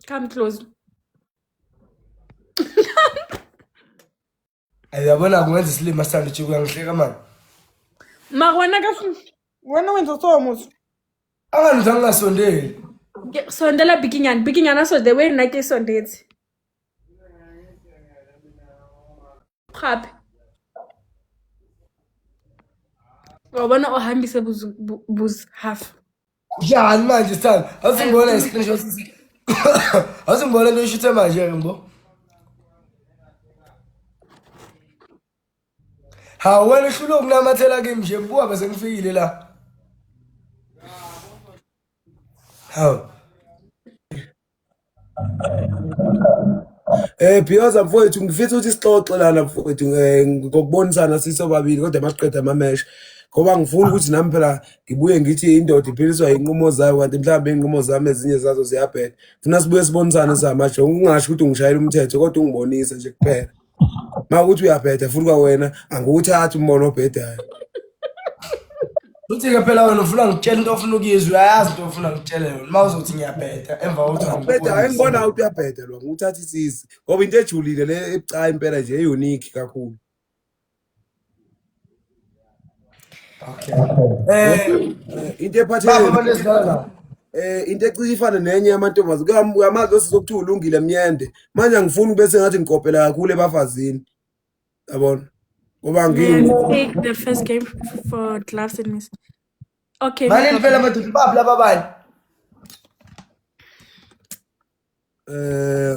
Come close. Yabona kungenza isilima sithanda uJuku uyangihleka mani. Ma wena ka wena wenza so muso. Anganza ngingasondeli. Ke- Sondela bikinyana, bikinyana so the way nake sondetse. gape wa bona o hambise buz- bu- buz half Njani manje sithanda? Awusingibona i screenshot. Awusingibona into ishuthe manje ke mbo. Ha wena uhlule ukunamathela kimi nje buka bese ngifikile la. Hawu. Eh Bhiyoza mfowethu ngifisa ukuthi sixoxe lana mfowethu eh, ngokubonisana sisobabili kodwa masiqeda amamesha ngoba ngifuna ukuthi nami phela ngibuye ngithi indoda iphiliswa inqumo zayo kanti mhlawumbe inqumo zami ezinye zazo ziyabheda funa sibuye sibonisane samaje ungasho ukuthi ungishayela umthetho kodwa ungibonise nje kuphela Uma uthi uyabheda futhi kwawena angiwuthathi umbono obhedayo. Uthi-ke phela wena ufuna ngitshela into ofuna ukuyizwa uyayazi into ofuna ngitshele yona uma uzothi ngiyabheda emva kokuthi Bheda angiboni. engibona ukuthi uyabheda lo ngiwuthatha isizi ngoba into ejulile le ebucayi impela nje e-unique kakhulu. Okay. Eh into ephathele baba lesidala. Eh into ecishe ifane nenye yamantombazane kuyam- kuyamazi osisi okuthiwa ulungile myende. Manje angifuni ube sengathi ngikopela kakhulu ebafazini. Yabona? Ngoba And ngini take the first game for gloves and miss. Okay, no Malini phela problem. madoda baphi laba abanye? eh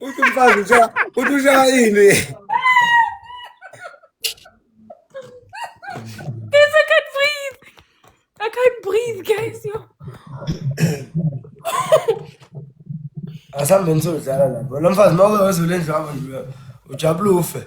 Uthi umfazi ushaya uthi ushaya ini? Guys, I can't breathe. I can't breathe, guys. Yo. Asambe nisozala lapho. Lo mfazi mawuke wezule endlwabo nje ujabulufe.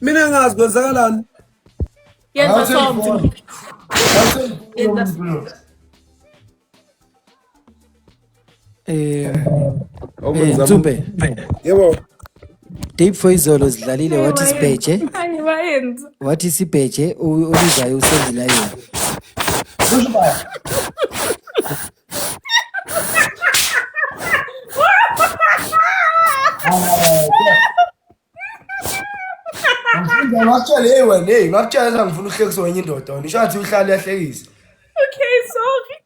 mina ngazi kwenzakalani yenza something eh Ntube yebo Deep for izolo zidlalile wathi sibheje wathi sibheje ulizayo usenzile yena Ngifunda ngakutshela hey wena hey ngakutshela ukuthi ngifuna uhlekisa wenye indoda wena isho ngathi uhlale yahlekisa. Okay, sorry.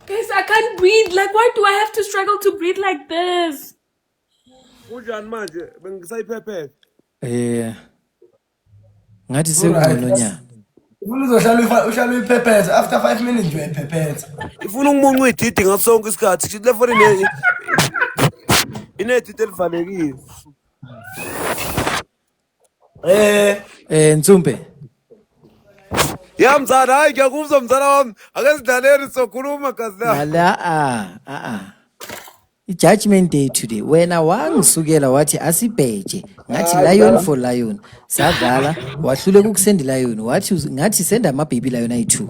Guys, I can't breathe. Like, why do I have to struggle to breathe like this? Kunjani manje? Bengisayiphephephe. Eh. Ngathi sekungcono nya. Ufuna uzohlala uyifa- uhlala uyiphepheza after five minutes nje uyayiphepheza. Ifuna umuncu ididi ngaso sonke isikhathi. Kusho ukuthi le foni ine inedidi elivalekile. Eh, Eh Ntsumpe. Ya mzala, hayi ngiyakuzwa mzala wami. Ake sidlaleni sokhuluma gazi la. Nala ah ah ah. Judgment day today wena wangisukela wathi asibheje ngathi lion for lion sadlala wahluleka ukusenda lion wathi uz- ngathi senda ama baby lion ayi2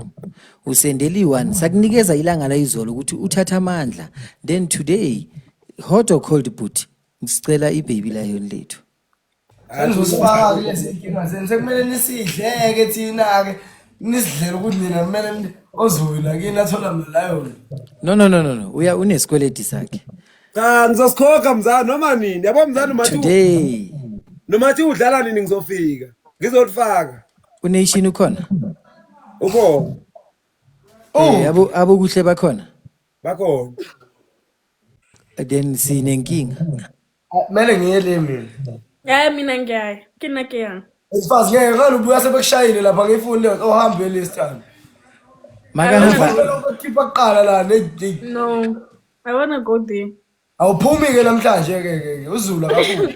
usendela i1 sakunikeza ilanga layizolo ukuthi uthatha amandla then today hot or cold but sicela i baby lion lethu Sengizosifaka kulezi inkinga zenu sekumele nisidleke thina-ke nisidlele ukuthi nina kumele ni- ozowina kini athola malayona no no no no no uya unesikweleti sakhe cha ngizosikhokha mzala noma nini yabo mzala noma thi- today noma thi udlala nini ngizofika ngizolifaka unation ukhona ukhona Eh, abo abokuhle bakhona bakhona then sinenkinga Kumele ngiye le mina. Hayi mina ngiyaya. Kina ke yang. Isifazi ngeke ngani ubuya sebekushayile lapha ngiyifuni leyo ohambe last time. Makahamba. Ngifuna ukukhipha kuqala la ne No. I wanna go there. awuphumi ke namhlanje ke ke ke, uzulu akabuyi.